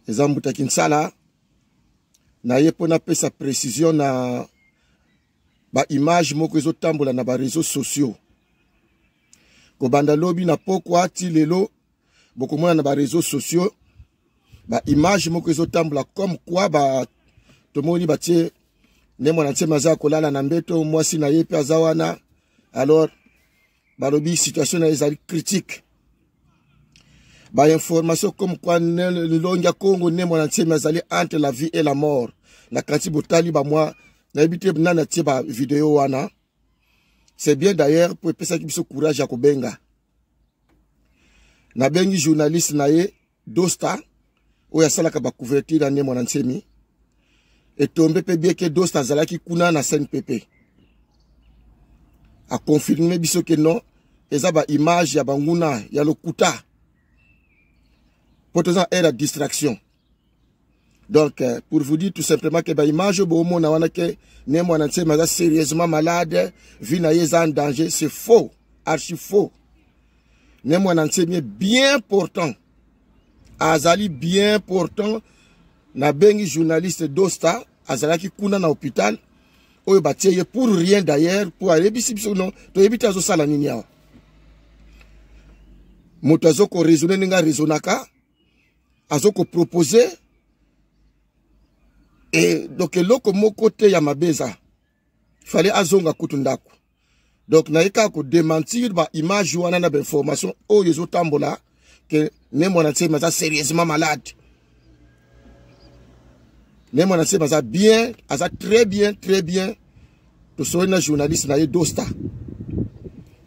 eza mbuta kinsala naye mpo napesa précision na baimage moko ezotambola na bareseau sociaux kobanda lobi na pokwa ti lelo bokomona na bareseau sociaux baimage moko ezotambola comme kua ba, tomoni batie nde mwana nsema aza kolala na mbeto mwasi na ye mpe aza wana alors balobi situation na ezali critique bainformation comme kua lilongi ya congo nde mwana nsemi azali entre la vie et la mort na kanti botali bamwa nayebi te nani atie bavideo wana c'est bien d'ailleurs mpo epesaki biso courage ya kobenga nabengi journaliste na ye dosta oyo asalaka ba couverture ya ndembo na nsemi etombe mpe bieke dosta azalaki kuna na cnpp akonfirme biso ke non eza baimage ya banguna ya lokuta mpo toza na aire ya distraction donc euh, pour vous dire tout simplement que baimage oyo boomona wana ke ne mwana nsema aza sérieusement malade vie na ye eza en danger c'est faux archi faux ne mwana nsemi est bien portant azali bien portant nabengi journaliste dosta azalaki kuna na hôpital oyo batie ye pour rien d'ailleurs mpo ayebisi biso no toyebi te azosala nini awa moto azokoraisonne ndenge araisonnaka azo ko proposer e donc eloko moko te ya mabe eza fale azonga kutu ndako donc naye kaka kodementir baimage wana na bainformation oyo ezotambola ke ne mwana nsemi aza sérieusement malade ne mwana nsemi aza bien aza très bien très bien tosoli na journaliste na ye dosta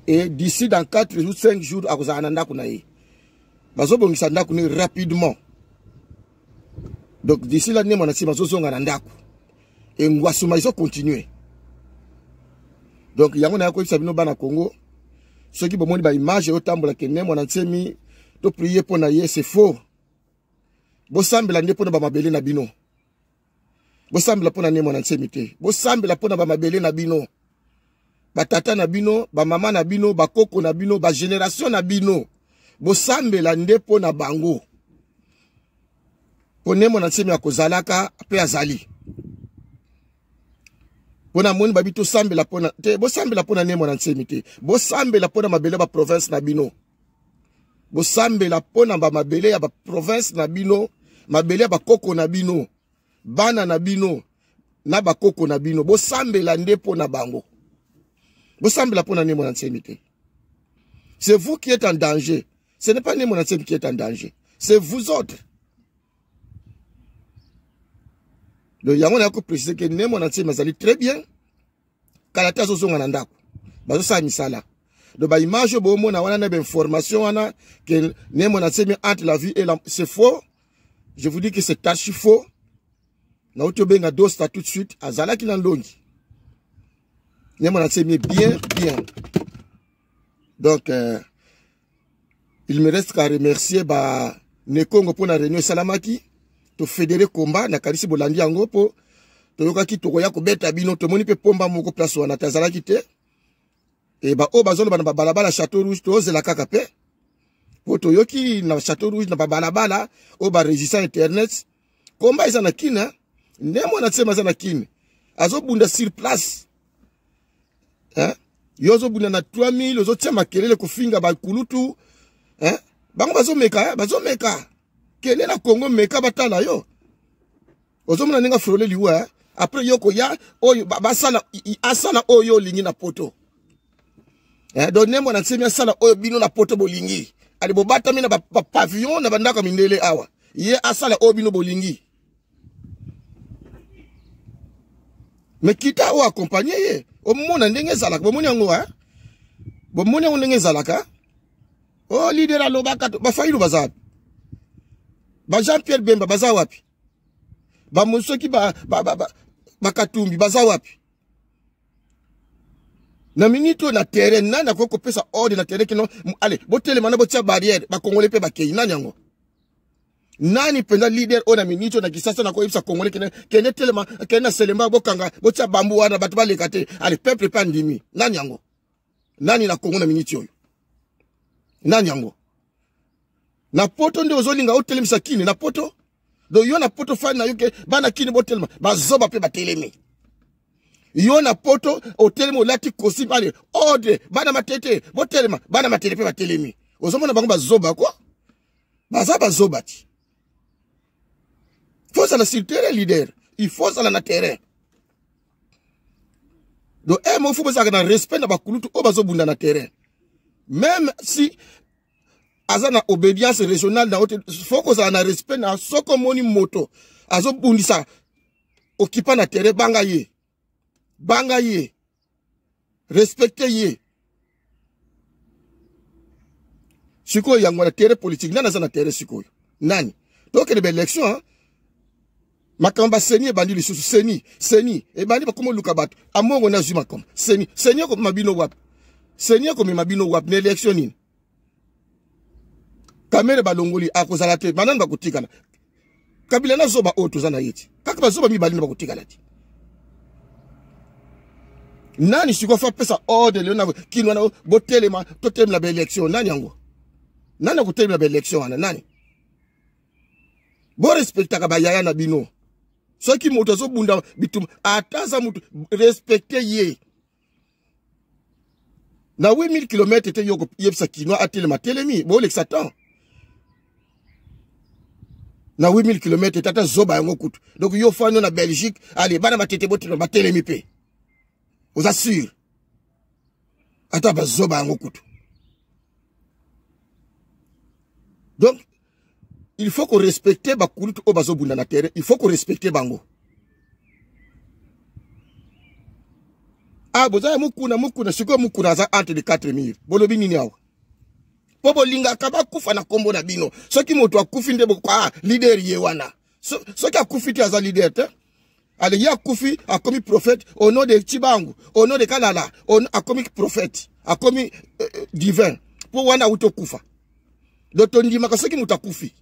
et d'ici dans 4 jours 5 jours akozala na ndako na ye bazobongisa ndako ne rapidement donc d'ici la nde mwana nsima azozonga na ndako engwasuma ezocontinue donc yango naya koyebisa bino bana congo soki bomoni baimage eyotambola ke ne mwana nsemi toprie mpo na ye se faux bosambela nde mpo na bamabele na bino bosambela mpo na nemo na nsemi te bosambela mpo na bamabele na bino batata na bino bamama na bino bakoko na bino bageneratio na bino bosambela nde mpo na bango mpo nemo na nsemi akozalaka mpe azali mpo na moni babi tosambela mpona te bosambela mpo na nemo na nsemi te bosambela mpo na mabele baprovince na bino bosambela mpo na bamabele ya baprovince na bino mabele ya bakoko na bino bana na bino na bakoko na bino bosambela nde mpo na bango bosambela mpo na nemo na nsemi te c'est vous qui êtes en danger ce n'est pas nemo na nsemi qui est en danger c'est vous autres donc yango nayoki koprecise ke nemo na nsemi azali très bien kala te azozonga na ndako bazosala misala donc baimage oyo boomona wana na bainformation wana ke nemo na semi entre la vie et la c'est faux je vous dis que c'est archi faux nauti obenga dosta tout de suite azalaki na ndongi nemo na semi bien bien donc euh, il me reste qu'à remercier ba nekongo mpo na réunion esalamaki tofedere komba nakanisi bolandi yango mpo toyokaki tokoya kobeta bino tomoni mpe pomba moko place wana te azalaki te e baoyo bazoloba na babalabala chateau rouge tozela kaka mpe mpo toyoki na chateau rouge na babalabala oyo baresistant internet Combat eza na Kin hein. Ne mwana tsema aza na Kin. Azo bunda sur place. Hein? Yo ozo bunda na 3000 ozo tia makelele kofinga ba kulutu. Hein? Bango bazo meka, hein? bazo meka. Kende na Congo meka batala yo. Ozo mona ninga frole liwa hein? Après yo koya oyo basala asala oyo lingi na poto. eh, donc ne mwana nsemi asala oyo bino na poto bolingi ali bobatami na bapavillon ba na bandako ya mindele awa ye asala oyo bino bolingi me kita oyo akompagne ye omona ndenge ezalaka bomoni yango eh? bomoni yango ndenge ezalaka o oh, lidere alobaka bafailu baza wapi ba jean pierre bemba baza wapi bamosoki bakatumbi ba, ba, ba, ba baza wapi na minute oyo na terrain nani akoki kopesa ordre na terrain kino ale botelema na botia barrière bakongole mpe bakei nani yango nani mpenza leader oyo na minute oyo na kisasa nakoyebisa kongole kende kende telema kende na selemba bokanga botia bambu wana bato baleka te ale peuple mpe andimi nani yango nani na kongo na miniti oyo nani yango na poto nde ozolinga otelemisa kini na poto do yo na poto fani na yo ke bana kini botelema bazoba mpe batelemi yo na poto otelemi olati kosi bale ode bana matete botelema bana matete mpe batelemi ozomona bango bazoba kwa baza bazoba ti fo ozala sur terrain leader il faut ozala na terrain donc e eh, mo fo bozalaka na respect na bakulutu oyo bazobunda na terrain même si aza na obédience régionale na ote fo kozala na respect na soki omoni moto azobundisa okipa na terrain banga ye banga ye respecte ye sikoyo yango wana tere politike nani aza na tere sikoyo nani tokende baélection makambo baseni ebandi lisusu seni seni ebandi bakoma oluka bato amongo nde azwi makambo seni seni ekomema bino wapi seni ekomema bino wapi na élection nini kamere balongoli akozala te banani bakotikala kabila na zoba oyo toza na ye ti kaka bazoba mibale nde bakotikala ti nani sikoyo fa pesa ordre lelo na kino wana botelema totelemela baelection nani yango nani akotelemela baelection wana nani borespektaka bayaya na bino soki moto azobunda bituma ata aza moto respekte ye na 8000 km te yo koyebisa kinois atelema atelemi bolekisa temps na 8000 km tata zoba yango kutu donc yo fano na belgique ale bana batete botelema batelemi mpe oza sur ata bazoba yango kutu donc il faut korespecte bakulutu oyo bazobunda na terrain il faut korespecte bango a ah, boza ya mokuna mokuna sikoyo mokuna aza entre de 4 mire bolobi nini awa mpo bolingaka bakufa na nkombo na bino soki moto akufi nde boko a ah, lider ye wana soki akufi te aza lider te alingi akufi akomi prophète au nom de Tibangu au nom de Kalala akomi prophète akomi euh, euh, divin mpo wana auti okufa do tondimaka soki moto akufi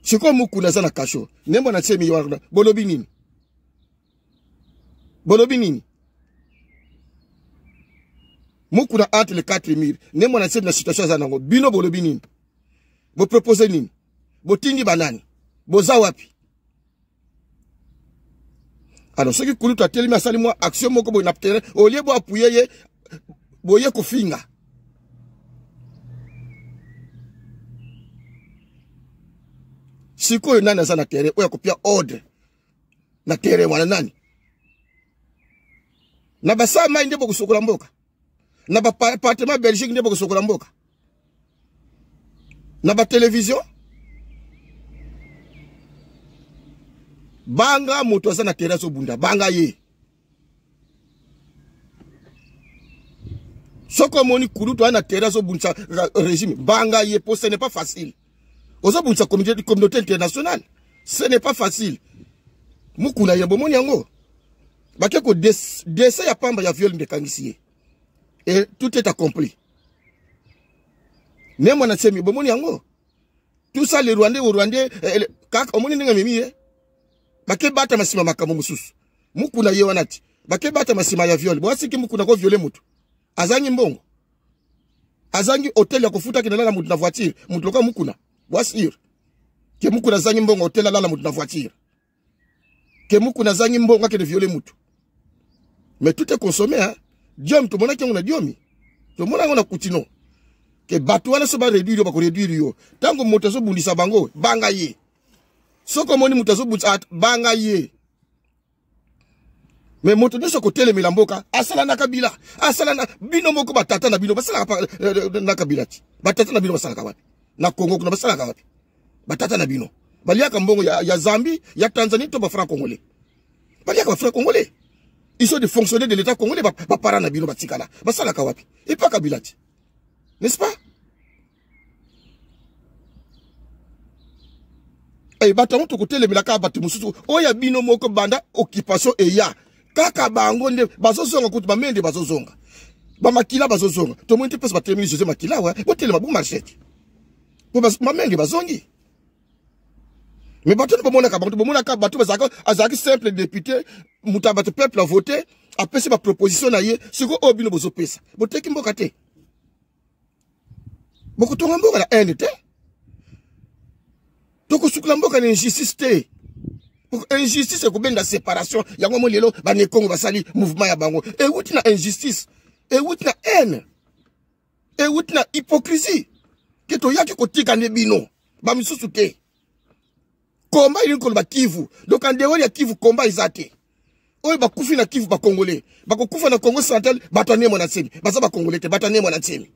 sikoyo mokuna aza na kasho nde mbo na tie miwana bolobi nini bolobi nini mokuna entre le 4 mur nde mbo na tie na situation aza nango bino bolobi nini bopropose nini botindi banani boza wapi alors soki kulutu atelemi asali mwa action moko boye na terrain olie bo apuye ye boye kofinga sikoyo nani aza na terrain oyo akopia ordre na terrain wana nani na basala mai nde bokosokola mboka na bapartement belgique nde bokosokola mboka na batelevizio banga moto aza na terrain azobunda banga ye soki omoni kulutu aza na terrain azobundisa euh, régime banga ye po ce n'est pas facile ozobundisa communauté internationale ce n'est pas facile mukuna ye bomoni yango bake ko dese ya pamba ya viol nde ekangisi ye et tout est accompli ne mwana semi bomoni yango tout ça le rwandais au rwandais eh, eh, kaka omoni ndenge amemi ye bake batama nsima makambo mosusu mukuna ye wana ti bake batama nsima ya viole boasiki mukuna ko viole motu azangi mbongo azangi hotel ya kofuta kende lala moto na voiture moto lokola mukuna wasir ke mukuna azangi mbongo hotel alala moto na voiture ke mukuna azangi mbongo akende viole motu mais tout est consommé hein? diomi tomonaki yango na diomi tomona yango na kutino ke bato wana so bareduire yo bakoreduire yo ntango moto azobundisa bango banga ye soki omoni moto azobundisa banga ye me moto nyonso akotelemela mboka asala na kabila asala na bino moko batata na bino basalaka eh, eh, na kabila ti batata na bino basalaka wapi na kongo kuna basalaka wapi batata na bino baliaka mbongo ya, ya zambie ya tanzanie to bafranc congolais baliaka bafranc congolais ils sont des fonctionnaires de l'état congolais bapara na bino batikala basalaka wapi epa kabila ti n'est-ce pas Hey, eh, bato yango tokotelemela kaka bato mosusu oyo ya bino moko banda occupation eya kaka bango nde bazozonga kutu bamei nde bazozonga bamakila bazozonga tomoni te place batelemeli jose makila wa botelema bomarchete po bamenge bazongi me bato nde bomonaka bango bomonaka bato azalaki simple député moto ya bato peuple avote apesi baproposition na ye sikoyo oyo bino bozopesa boteki mboka te bokotonga mboka na haine te tokosukula mboka na injustice te injustice ekobenda séparation yango mo lelo banekongo basali mouvement ya bango ewuti na injustice ewuti na haine ewuti na hypocrisie ke toyaki kotika nde bino bamisusu te komba elingi koloba kivu donc andewoli ya kivu komba eza te oyo bakufi na kivu bakongole bakokufa na congo central bato anie mwana nsemi baza bakongole te bato anie mwana nsemi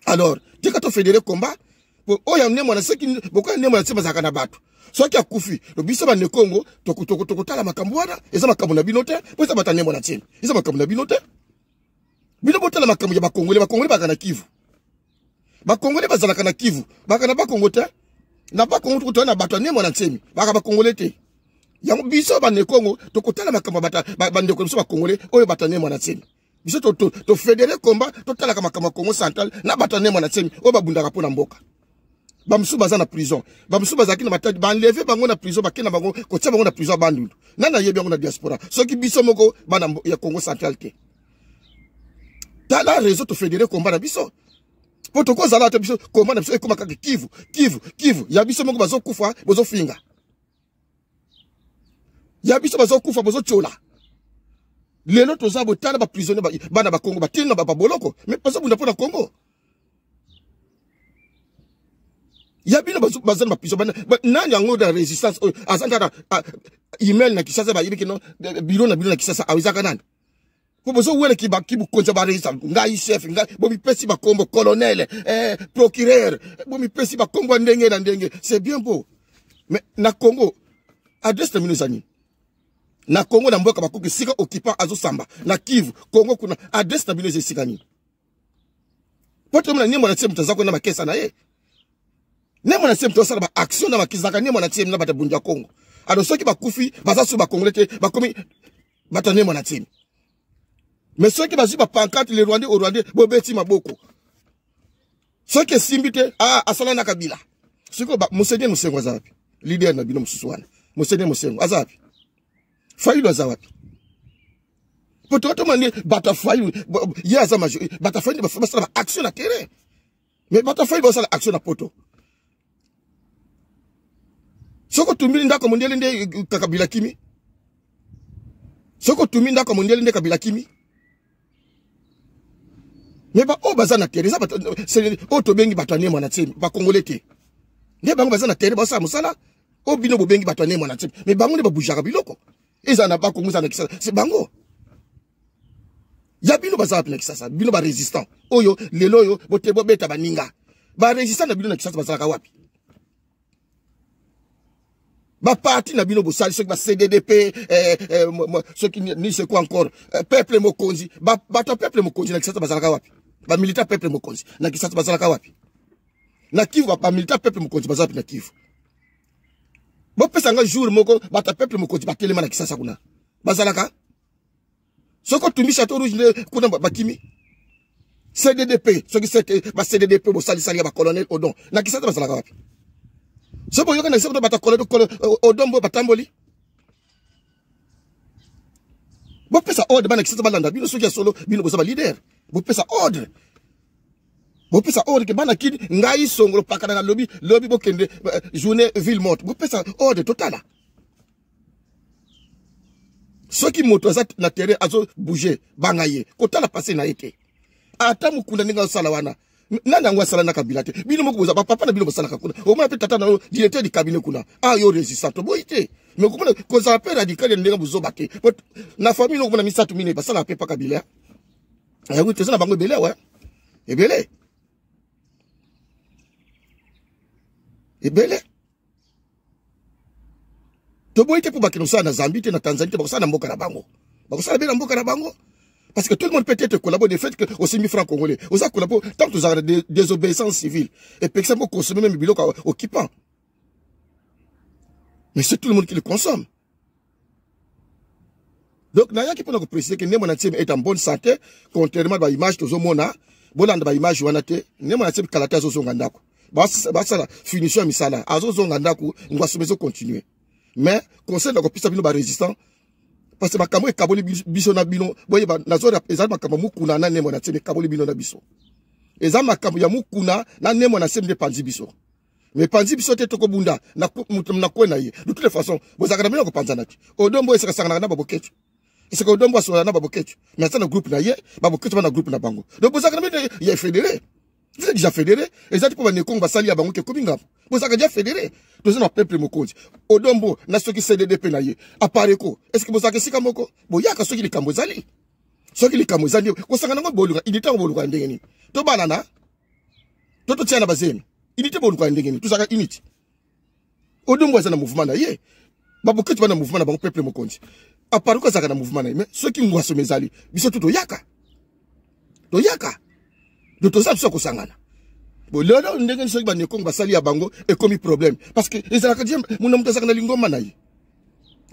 alors tika tofedere komba oyo anie mwana soki bokoya anie mwana nsemi bazalaka na bato soki akufi biso bande kongo tokotala makambo wana eza makambo na bino te mpo eza bato anie mwana nsemi eza makambo na bino te bino botala makambo ya bakongole bakongole bazalaka na kivu bakongole bazalaka na kivu baka na bakongo te na bakongo tokotoya na bato ya nembo na nsemi baka bakongole te yango biso bande kongo tokotala makambo ya bandeko na biso bakongole oyo bato ya nembo na nsemi biso tofedere komba totalaka makambo ya kongo central na bato ya nembo na nsemi oyo babundaka mpo na mboka bamosusu baza na prison bamosusu bazalaki na matadi banleve bango na prison bakenda bango kotia bango na prison ya bandundu nani ayebi yango na diaspora soki biso moko bana ya congo central te tala réseau to fédéré combat na biso mpo tokozala te biso combat na biso ekoma kaka kivu kivu kivu ya biso moko bazokufa bozofinga ya biso bazokufa bozotyola lelo toza botala baprisonnier bana bakongo batini na baboloko me bazobunda mpo na kongo ya bino baza na bapiso nani yango na résistance oyo aza kaka email na kisasa bayebi kino biro na bino na kisasa aezaka nani po bozowele kibukonza bareisa ngai chef ngai bomipesi bakombo colonel eh, procureur bomipesi bakombo ya ndenge na ndenge c'est bien beau mais na congo adresse na bino eza nini na congo na mboka bakuki esika occupant azosamba na kivu congo kuna adresse na bino eza esika nini po tomona nembo na tie moto aza kuna bakesa na ye nembo na tie moto asala baaction na bakisaka nembo na tie na bato ya bundi ya congo alors soki bakufi baza so bakongole te bakomi bata nde mwana timi me soki bazwi bapankate le rwandais o rwandais bobeti maboko soki esimbi te ah, asala na kabila sikoyo monseigneur mosengo aza wapi lider na bino mosusu wana monseigneur mosengo aza wapi fayulu aza wapi po tokatoma nde bato ya fayulu ye aza major bato ya fayulu basala baaction na terrain me bato afai basala action na poto soki otumbili ndako ya mondele nde kabila kimi soki otumbi ndako ya mondele nde kabila kimi me baoyo baza na tere oyo tobengi bato ya nemwa na tsemi bakongole te nde bango baza na tere basala mosala oyo bino bobengi bato ya nemwa na tsemi me bango nde babujaka biloko ezala na bakongo ezala na kisasa se bango ya bino baza wapi na kisasa bino barésistant oyo lelo oyo bote bobeta baninga barésistant na bino na kisasa bazalaka wapi baparti na bino bosali soki bacdd pe eh, eh, soki ni seku encore eh, peuple mokonzi bato ya peuple mokonzi na kisasa bazalaka wapi bamilita peuple mokonzi na kisasa bazalaka wapi na kivu bamilita peuple mokonzi baza wapi na kivu bopesa nga jour moko bato ya peuple mokonzi batelema na kisasa kuna bazalaka soki otumbi chateau rouge nde kuna bakimi cddp soki seke ba cddp bosalisali ya bacolonel odon na kisasa bazalaka wapi so boyoka na kisasa kuta bata colonel odon boyo batamboli bopesa ordre bana kisasa balanda bino soki ya solo bino boza balider bopesa ordre bopesa ordre ke bana kini ngai songolo pakana na lobi lobi bokende eh, journée ville morte bopesa ordre totala soki moto aza na terrain azo bouger banga ye kotala pase na ye te ata mokunda ndenge azosala wana nani yango asala na kabila te bino moko boza bapapa na bino bosalaka kuna omona mpe tata na yo directeur du cabinet kuna a ah, yo résistant toboyi te mais okomona kozala mpe radical ya ndenge bozoba te na famille okomona misato mine basalaka mpe pa kabila yango eh toza na bango ebele awa ebele ebele toboyi te mpo bakende kosala na zambie te na tanzanie te bakosala na mboka na bango bakosala be na mboka na bango parce que tout le monde peut être collabo de fait que osimbi franc congolais oza collabo ntango tozalaka na désobéissance civile epekisa mpo consommer meme biloko occupant mais c'est tout le monde qui le consomme donc nayaki mpona koprecise ke ndembo na ntieme est en bonne santé contrairement ba image tozomona bolanda ba image wana te ndembo na ntieme kala te azozonga ndako basala finition ya misala azozonga ndako ngwasomo ezocontinue mais conseil na kopesa bino barésistant parce que makambo ekaboli biso na bino boyeba nazora ezali makambo mokuna na ndembo na ntieme ekaboli bino na biso eza makambo ya mokuna na ndembo na ntieme nde epanzi biso mais panzi biso te tokobunda na kue na ye de toute façon bozalaka na bino kopanzana te odombo esakasanganaka na baboketsu esika odombo asolana na baboketsu mais aza na groupe na ye baboketsu ba na groupe na bango donc bozalaka na bino ya fédéré vous êtes déjà fédéré eza te mpo banekongo basali ya bango te ekomi ngambo bozalaka déjà fédéré toza na peuple mokonzi odombo na soki cdd mpe na ye apareko est ce que bozalaka esika moko boyaka soki likambo ezali soki likambo ezali kosangana yango boluka idita yango boluka ya ndenge nini tobalana to totiana bazemi unité boluka ya ndenge nini tozalaka unité odumbu aza na mouvement na ye baboketi bana mouvement na bango peuple mokonzi aparuka azalaka na mouvement na ye mais soki ngwasoma ezali biso tu toyaka toyaka do toza biso kosangana bolelo ndenge soki banekongo basali ya bango ekomi problème parce que ezalaka je muna moto azalaka na lingomba na ye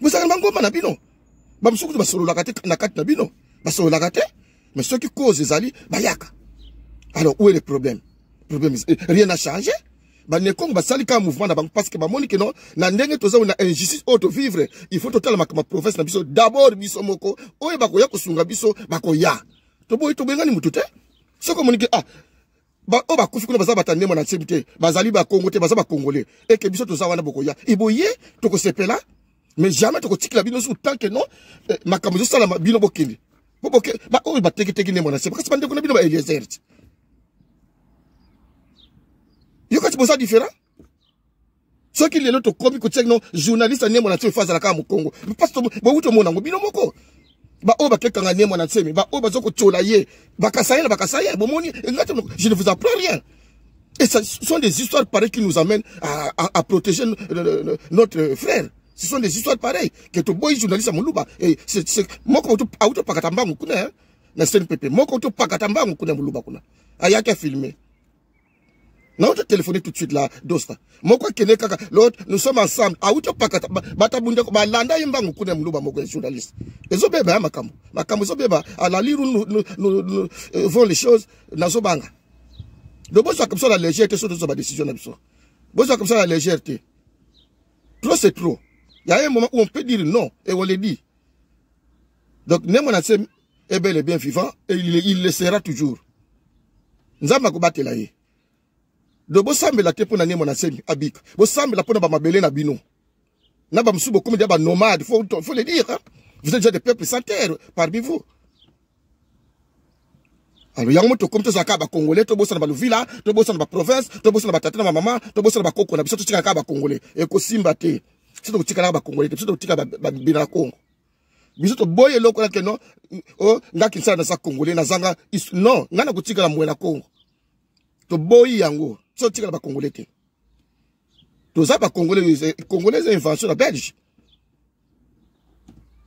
bozalaka na bangomba na bino bamosusu kutu basololaka te na kati na bino basololaka te mais soki cause ezali bayaka alors où est le problème problème eh, rien n'a changé banekongo basali kaka mouvement na bango parce que bamoni ke no na ndenge toza na injustice oyo tovivre il faut totala makambo ya province na biso d'abord biso moko oyo bakoya kosunga biso bakoya toboyi tobengani motu te soki omoni ke ah baoyo bakufi kuna baza bata ndembo na nsebi te bazali bakongo te baza bakongole eke biso toza wana bokoya eboye tokosepela mais jamais tokotikela bino suku tant que non eh, makambo ezosalama bino bokende boboke baoyo bateketeki ndembo na nsebi kasi bandeko na bino baeliezer ti yo kati boza différent soki lelo tokomi kotia kino journaliste ya nembo na nse efazala kaka mokongo mpasi bowuti omona yango bino moko baoyo bakekanga nembo na nsemi baoyo baza kotyola ye bakasaye na bakasaye bomoni ngati je ne vous apprends rien et ce sont des histoires pareilles qui nous amènent à, à, à protéger notre frère ce sont des histoires pareilles que toboyi journaliste ya moluba moko auto pakata mbangu kuna na cnpp moko auto pakata mbangu kuna moluba kuna ayaki afilme nauta telefone tout de suite la dosta moko akende kaka lot nous sommes ensemble awuti opakata bato abundeko balanda ye mbangu kuna ya moluba moko ya journaliste ezobeba ya makambo makambo ezobeba alaliru euh, vont les choses nazobanga donc bozwaka biso na légère te so tozwa badécision na biso bozwaka biso na légère te trop c'est trop ya ye moment où on peut dire non et on le dit donc ne mona se est bel et bien vivant et il, il le sera toujours nzambe akobatela ye do bosambela te mpo na nemo na semi abika bosambela mpo na bamabele na bino na bamosusu bokomi deya banomade faut, faut le dire hein? vous êtes déjà des peuples sans terre parmi vous alors yango moto okomi tozala kaka bacongolais tobosana baluvila tobosana baprovince tobosana batata na bamama tobosana bakoko na biso totikala kaka bacongolais ekosimba te biso tokotikalaka bacongolais te biso tokotika babina na congo biso toboyi eloko na keno o oh, nga kinsala naza congolais nazanga non nga nakotikala moye na congo toboyi yango so tikala bacongolais te toza bacongolais eh, congolais eza invention na belge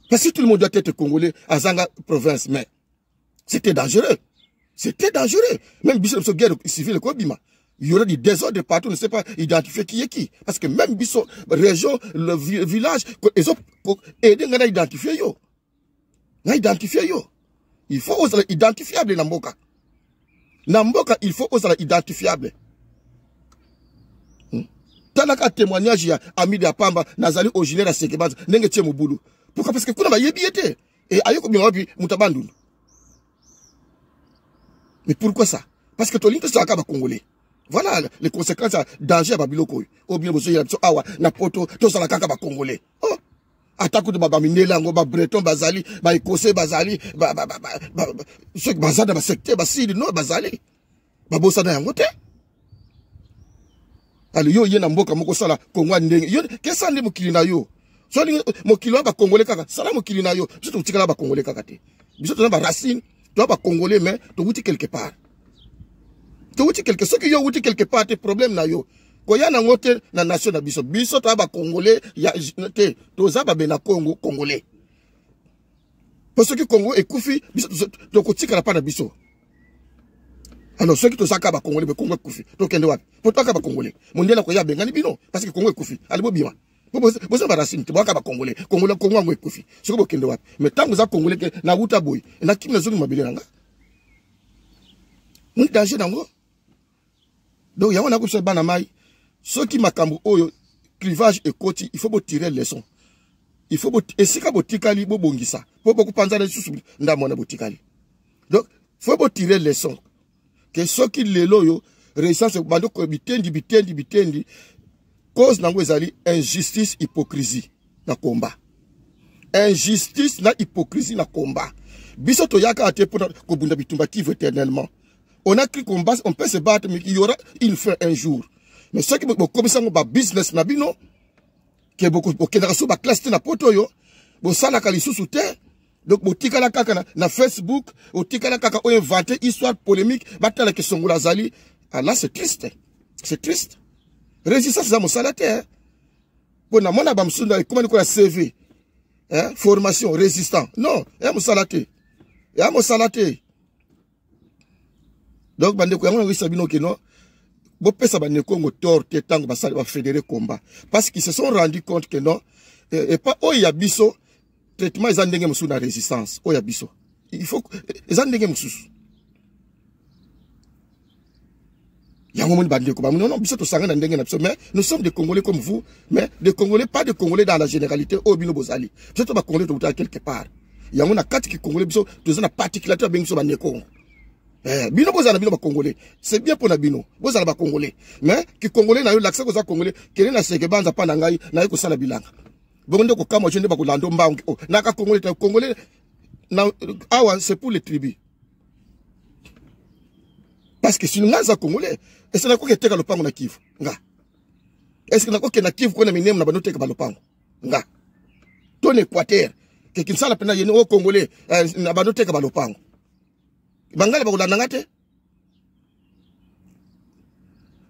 parce que tout le monde doit être congolais azanga province mais C'était dangereux. C'était dangereux. Même Bissot, Bissot, guerre civile, quoi, Bima. Il y aurait du désordre partout, on ne sait pas identifier qui est qui. Parce que même Bissot, région, le village, ils ont aidé à identifier yo. À identifier yo. Il faut aux identifiables, Namboka. Namboka, il faut aux identifiables. Hmm? talaka témoignage ya amide ya pamba nazali originaire ya sekebanza ndenge tie mobulu pourquoi parce que kuna bayebi ye te Et ayo kobima wapi mutabandundu. Mais pourquoi ça Parce que tolingi tosaka ba congolais. Voilà les conséquences à danger à Babyloko. Ou oh, bien bozo yabso awa na poto tosala kaka ba congolais. Oh ata kutu babamindele yango babreton bazali baekose bazali soki baza na basecteur basili no bazali babosana yango te alo yo oye na mboka moko osala kongo ya ndenge yo kesa nde mokili na yo so olingi mokili wana bakongole kaka sala mokili na yo biso tokotikala bakongole kaka te biso toza baracine toza bakongole mais towuti quelque part towuti quelque soki yo owuti quelque part te problème na yo koya nango te na nation na biso biso toza bakongole te toza babe na congo congolais mpo soki congo ekufi biso tokotikala mpa na biso alors soki tozaka bakongole me kongo ekufi tokende wapi po toyaka bakongole mondial akoye abengani bino parce que kongo ekufi ali bobima boza barasini te boyaka bakongole kongole kongo yango ekufi soki bokende wapi me ntango oza kongole ke nawuta boye nakimi nazongi mabele na nga moni danger nango donc yango na kosa bana mai soki makambo oyo clivage ekoti il faut botire leçon il faut esika botikali bobongisa mpo bokopanzana lisusu ndambo wana botikali donc faut botire leçon ke soki lelo oyo resistance bando ko bitendi bitendi bitendi cause nango ezali injustice hypocrisie na combat injustice na hypocrisie na combat biso toyaka te mpona kobunda bitumba kivu éternellement on a cru qu'on on peut se battre mais il y aura une fin un jour mais soki bokomisa yango babusiness na bino ke bokendaka so baklasse te na poto oyo bosalaka lisusu te donc botikala kaka na, na facebook otikala kaka oyo invente histoire polémique batala ke songola azali ah, là c'est triste c'est triste résistance eza mosala te eh? mpo namona bamosusu na ekomani koya cv eh, formation résistant non ya eh, mosala te ya eh, mosala te donc bandeko yango nakoyisa bino ke no bopesa banekongo tor te ntango basali bafedere combat parce qu'ils se sont rendu compte que non eh, epa oyo ya biso traitement eza ndenge mosusu na résistance oyo ya biso il faut eza ndenge mosusu yango moni bandeko bamoni non biso tosangana ndenge na biso mais nous sommes des congolais comme vous mais des congolais pas des congolais dans la généralité oyo oh, bino bozali biso to bacongolais tokutaka quelque part yango na kati kikongolais biso toza na particularité babengi biso banekongo Eh, bino bozala na bino bacongolais c'est bien mpo na bino bozala bacongolais mais kikongolais na yo lakisa koza congolais kende na seke banza mpa na ngai naye kosala bilanga bongo nde kokamwa jo nde bakolanda mbangi oh, naka congolais ta congolais awa c'est pour les tribus parce que sino nga aza congolais ese nakoki eteka lopango na kivu nga eske nakoki na kivu kuna minemu na bando teka balopango nga to na équateur ke kinsala mpena yeni o congolais eh, na bando teka balopango bangala bakolanda nga te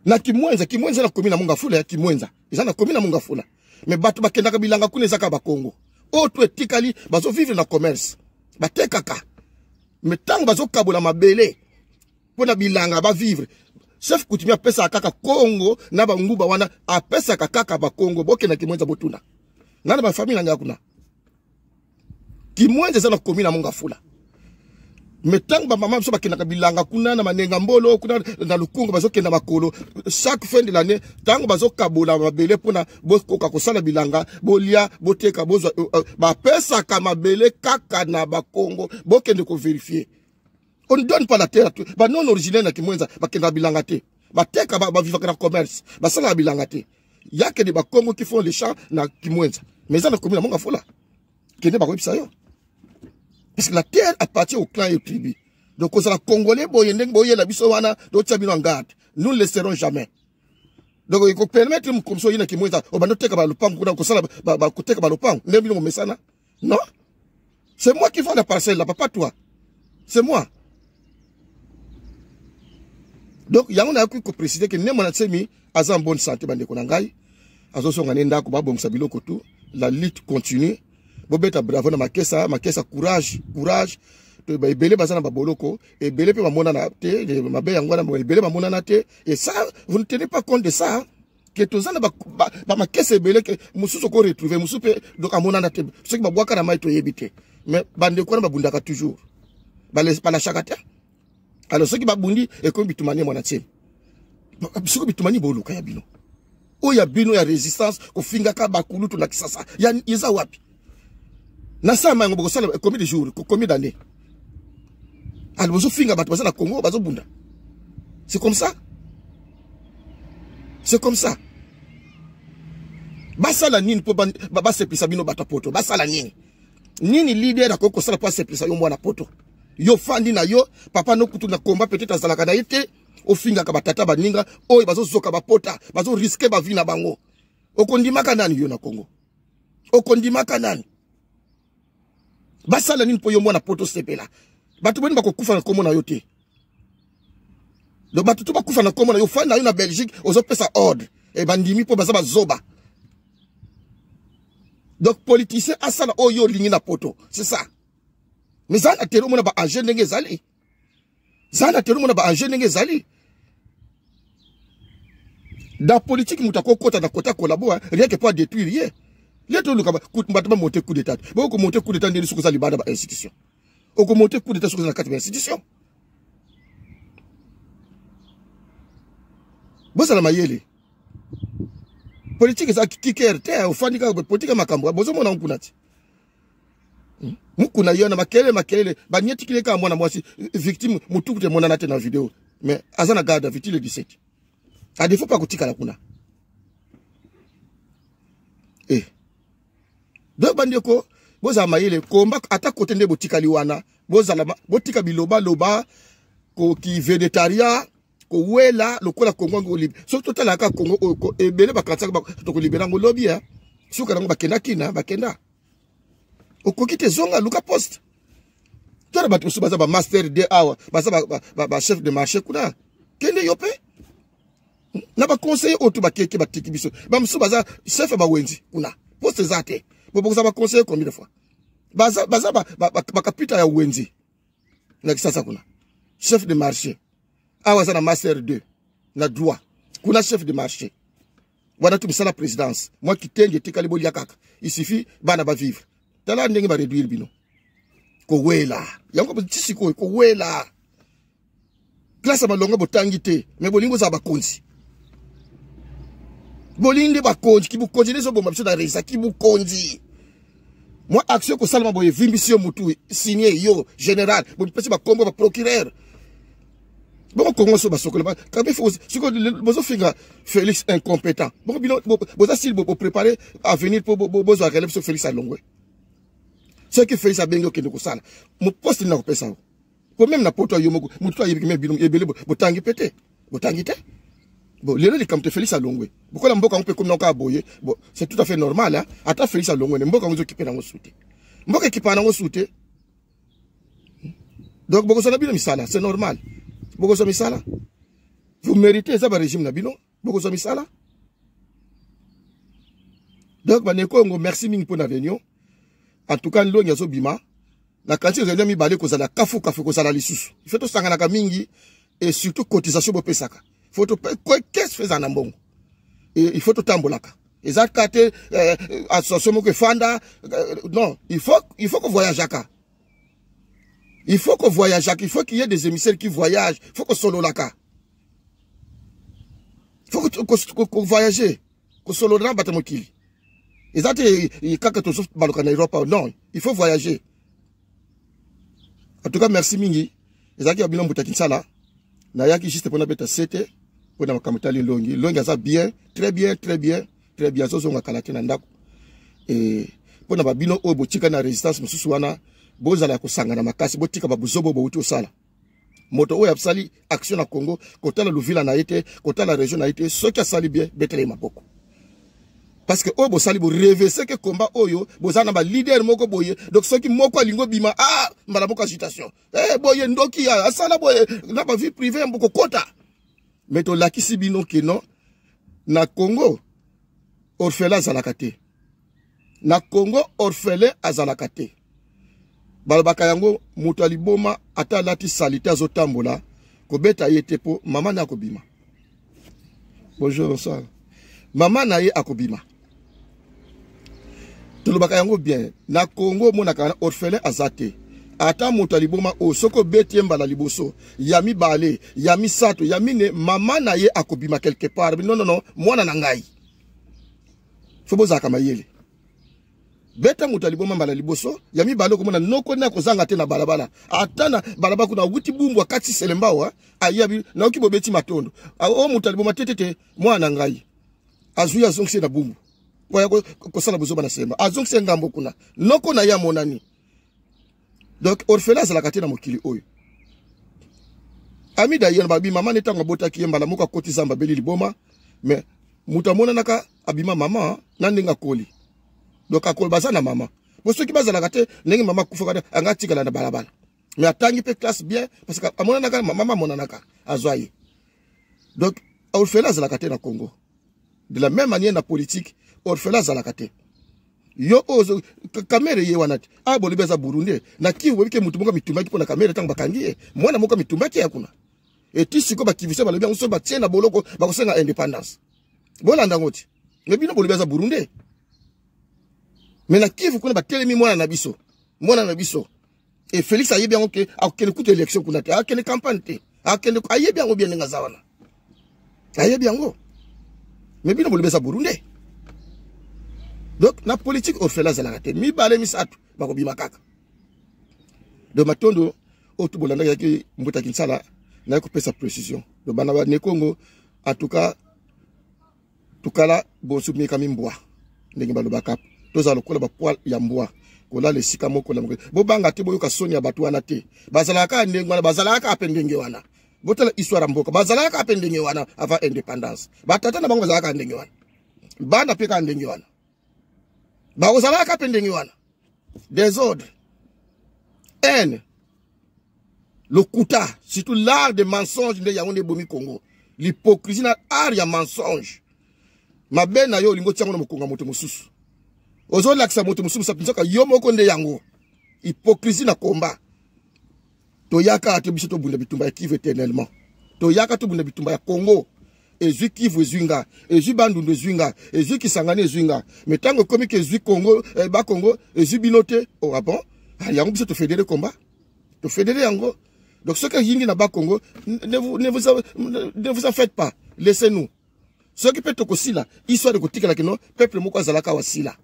na kimwenza kimwenza na komi na mongafula ya kimwenza eza na komi na mongafula me bato bakendaka bilanga kuna ezaka bakongo oyo to etikali bazovivre na commerce batekaka me ntango bazokabola mabele mpo na bilanga bavivre chef kutimi apesaka kaka kongo na banguba wana apesaka kaka bakongo bokenda kimwenza botuna nana bafamile na ngai kuna kimwenze eza na komi na mongafula me ntango bamama biso bakendaka bilanga kuna na manenga mbolo kuna na lukungu bazokenda makolo chaque fin de l'année ntango bazokabola mabele mpona bokoka kosala bilanga bolia boteka bozwa euh, euh, bapesaka mabele kaka na bakongo bokende koverifie on ne donne pas la terre ba non originaire na kimwenza bakendaka bilanga te bateka bavivaka na commerce basalaka bilanga te yake de bakongo qui font les champs na kimwenza mais eza na komi na monga fola kende bakoyebisa yo parce que la terre appartient au clan et au tribu donc kozala congolais boye ndenge boyela biso wana totia bino en garde nous ne laisserons jamais donc ekopermettre mokomisi oyina kimwenza obanda oteka balopango kuna kosala koteka balopango ndenge bino momesana Non C'est moi qui vends la parcelle là, papa toi. C'est moi. Donc, il y a un qui peut préciser que Némon Atsemi a en bonne santé, bande Konangai. Azo son gané ndako, babom sabilo koto. La lutte continue. Bobeta bravo na makesa, makesa courage, courage. ebele baza na baboloko ebele mpe bamonana te mabe yango wana ebele bamonana te et ça vous ne tenez pas compte de ça ke toza na bamakese ebele ke mosusu oko retrouve mosusu mpe donc amonana te soki babwaka na mai toyebi te mais bandeko wana babundaka toujours balashaka te alors soki babundi ekomi bitumani mwana ntieni soki bitumani boluka ya bino oyo ya bino ya resistance kofingaka bakulutu na kisasa eza wapi na sama yango bokosala combien de jours combien d'années alors bozofinga bato baza na congo bazobunda c'est comme ça c'est comme ça basala nini mpo basepelisa bino bato ya poto basala nini nini leader akoki kosala mpo asepelisa yo mwana poto yo fandi na yo papa nokutu na komba peut-être azalaka na ye te ofingaka batata baninga oyo bazozoka bapota bazoriske bavi na bango okondimaka nani yo na congo okondimaka nani basala nini mpo yo mwana poto sepela bato boni bakokufa na nkombo na yo te donc bato to bakufa na nkombo na yo fani na yo na belgique ozopesa ordre e bandimi mpo baza bazoba donc politicien asala oyo olingi na poto c'est ça mais zala tele omona baage ndenge ezali zala te omona ba enjeu ndenge ezali na politiki moto akokota na kota kolabo rien que po adétruire ye ye toluka bato bamonte coup d'état te boyo komonte coup d'état ndeni soki oza libanda ba institution okomonte coup d'état soki oza na kati ba institution bozala mayele politiki eza kiker te ofandi kaka politiki ya makambo bozomona nkuna te hmm? mukuna yo na makelele makelele banietikile kaka mwana mwasi victime motuku te emonana te na video mais aza na garde avec le 17 à défaut pas kotikala kuna eh donc bandeko bozala mayele komba ata kote nde botikali wana bozala botika biloba loba ko ki vedetaria kowela lokola kongo yango olibi soki totalaka kongo oyo ebele bakatisaka tokolibela yango lobi ya eh. suka nango bakenda kina eh, bakenda okoki te zonga luka poste tala bato mosusu baza bamaster de awa baza bachef de marché kuna kende yo mpe hmm? na baconseiller oyo to bakeke batiki biso bamosusu baza chef ya bawenzi kuna poste eza te bobokoza baconseiller combien de fois baza bakapita ya wenzi na kisasa kuna chef de marché awa aza na master 2 na droit kuna chef de marché wana tu misala présidence mwa kitenge etikali bolia kaka il suffit bana bavivre tala ndenge baréduire bino kowela yango ti sikoyo kowela classe ya malonga botangi te me bolingi bozala bakonzi bolingi nde bakonzi kibokonzi nde ezoboma biso na resa kibokonzi mwa action ekosalama boye evimbisi yo motu signe yo général bopesi bakombo baprocureur boko kongo so basokola kabe siko bozofinga félix incompétent boko bino boza sili boprépare avenir mpo bozwa relève so félix alongwe soki félix abengi okende kosala moposte nini nakopesa yo po meme na poto yo moko motu to ayebi meme bino ebele botangi pe te botangi te bon lelo likambo te félix alongwe bokola mboka yango mpe ekomi nako aboye bon c'est tout à fait normal hein? ata félix alongwe ne mboka yango ezokipe nango su te mboka ekipaka nango su te donc bokozwa na bino misala c'est normal bokozwa misala vous méritez eza barégime na bino bokozwa misala donc bandeko yango merci mingi mpo na réunion en tout cas ndongi azobima na kanti ezali ya mibale kozala kafu kafu kozala lisusu ife tosanganaka mingi et surtout cotisation bopesaka faut kese feza na mbongo il faut totambolaka eza ka te eh, association moko efanda eh, non il faut il faut kovoyageaka il faut kovoyageaka il faut qu'il y ait des émissaires qui voyagent il faut kosololaka faut kovoyage kosolola na bato ya mokili eza te kaka tozobaluka na europa non il faut voyager en tout cas merci mingi ezalaki ya bino mbuta kinsala nayaki juste mpona beta sete mpo na makambo etali elongi elongi aza bien très bien très bien très bien azozonga kala te na ndako mpo na babino oyo botika na résistance mosusu wana bozala ya kosangana makasi botika babuzobo bouti osala moto oyo asali action na congo kotala luvila na ye te kotala région na ye te soki asali bien betela ye maboko parce que oyo bosali borevese ke komba oyo boza na balider moko boye donc soki moko alingi obima a ah, mbala moko agitation e eh, boye ndoki asala boye na bavie privé ya mbokokota me tolakisi bino ke non na congo orfela azalaka te na congo orphelin azalaka te balobaka yango moto ya liboma ata alati salite azotambola kobeta ye te mpo mama na ye akobima bonjour bonsoir mama na ye akobima tolobaka yango bien na congo omonaka na orphelin aza te ata moto ya liboma oyo soki obeti ye mbala liboso ya mibale ya misato ya mine mama na ye akobima quelque part nonono mwana na ngai fo bozalaka mayele beta moto ya liboma mbala liboso ya mibale okomona noko nde akozanga te na balabala ata na balabala kuna awuti bumbu akati selembao ayabi nayoki bobeti matondo o moto ya liboma te te te mwana na ngai azwi azongisi na bumbu oya kosala bozoba na semba azongisi ngambo kuna noko na ye amonani donc orphelin azalaka te na mokili oyo ami dayel babi mama ne ntango abotaki ye mbala moko akoti zamba abeli liboma mais moto amonanaka abima mama na ndenge akoli donc akolo baza na mama po soki bazalaka te ndenge mama akufaka anga atikala na balabala mais atangi mpe classe bien parce que amonanaka mama amonanaka azwa ye donc orphelin azalaka te na congo de la même manière na politique orphelin azalaka te yo oyo kamere ye wana te a ah, bolobi aza burundais na kivu boyebi ke motu moko amitumbaki mpo na kamere ntango bakangi ye mwana moko amitumbaki ya kuna eti sikoyo bakivise balobi yango soki batie na boloko bakosenga indépendance bolanda yango te me bino bolobi aza burundais me na kivu kuna batelemi mwana na biso mwana na biso e felix ayebi yango ke akokende kutu élection kuna te akende campagne te akende ayebi yango bien ndenge aza wana ayebi yango me bino bolobi eza burunde donc na politique orfela azalaka te mibale misato bakobima kaka donc matondo oyo tu bolandaki yaki mbuta kinsala naye kopesa précision donc bana ba nekongo en tout cas tukala bonsu mekami mbwa ndenge balobaka tozala lokola bapoil ya mbwa kolala esika moko na moko bobanga te boyoka soni ya bato wana te bazalaka kaka ndenge wana bazalaka kaka mpe ndenge wana botala histoire ya mboka bazalaka kaka mpe ndenge wana avant indépendance batata na bango bazalaka kaka ndenge wana bana mpe kaka ndenge wana bakozalaka mpe ndenge wana desordre haine lokuta surtout l'art de mensonge nde yango nde ebomi congo l'hypocrisie na art ya mensonge mabe na yo olingi otiango na mokongo ya moto mosusu ozolakisa moto mosusu mpenza yo moko nde yango hypocrisie na combat toyaka te biso tobunda bitumba ya kivu éternellement toyaka tobunda bitumba ya congo ezwi kivu ezwi nga ezwi bandundu ezwi nga ezwi kisangani ezwi nga me ntango ekomi ke ezwi congo eh, bakongo ezwi bino te oh, ah bon ah, yango biso tofedere combat tofedere yango donc soki eyingi na bakongo ne vous, ne vous, ne vous en faites pas laissez nous soki mpe tokosila histoire ekotikala kino peuple moko azalaka awa sila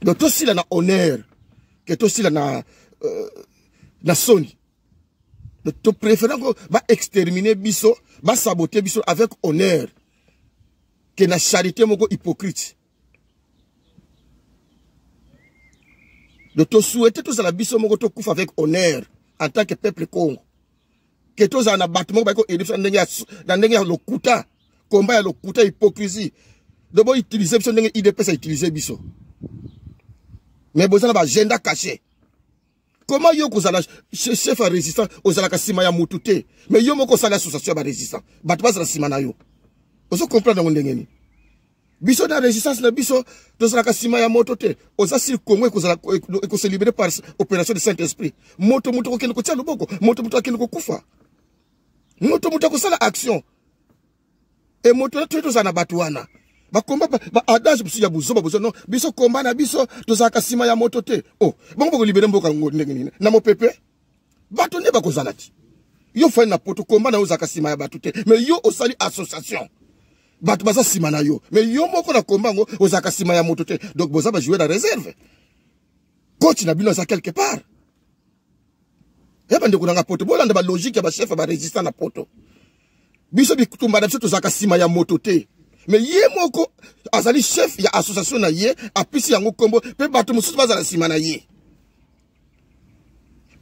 donc tosila na honneur ke tosila na euh, na soni topréférant ko baextermine biso basabote biso avec honneur ke na charité moko hypocrite donc tosouhaite tozala biso moko tokufa avec honneur en tant que peuple congo ke tozala na bato moko bayeko elebisa na ndenge ya lokuta komba ya lokuta hypocrisie donc boutilize biso ndenge idps autilize biso mais boza na baagenda cache comment yo kozala chef ya résistant ozalaka nsima ya motu te mais yo moko osali association ya barésistant bato bazala nsima na yo ozo comprendre yango ndenge nini biso na resistance na biso tozalaka nsima ya moto te oza sili congo ekozala ekose libere par opération de saint esprit moto moto akokende kotia loboko moto moto akende kokufa moto moto akosala action e moto na toye tozala na bato wana bakomba baadage mosusu ya buzoba bozo no biso komba na biso tozalaka nsima ya moto te o oh, bango bakolibere mboka yango ndenge nini na mopepe bato nde bakozala ti yo fani na poto komba na yo ozalaka nsima ya bato te mais yo osali association bato baza nsima na yo mais yo moko na komba yango ozalaka nsima ya moto te donc boza bajouer na réserve coach na bino aza quelque part ya bandeko nanga poto bolanda balogique ya bachef ya barésistant na poto biso bitumba na biso tozalaka nsima ya moto te me ye moko azali chef ya association na ye apesi yango nkombo mpe bato mosusu bazala nsima na ye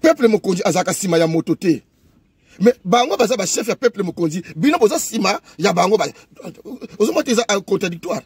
peuple mokonzi azalaka nsima ya moto te mais bango baza ba chef ya peuple mokonzi bino boza sima ya bango ba ozomona eza contradictoire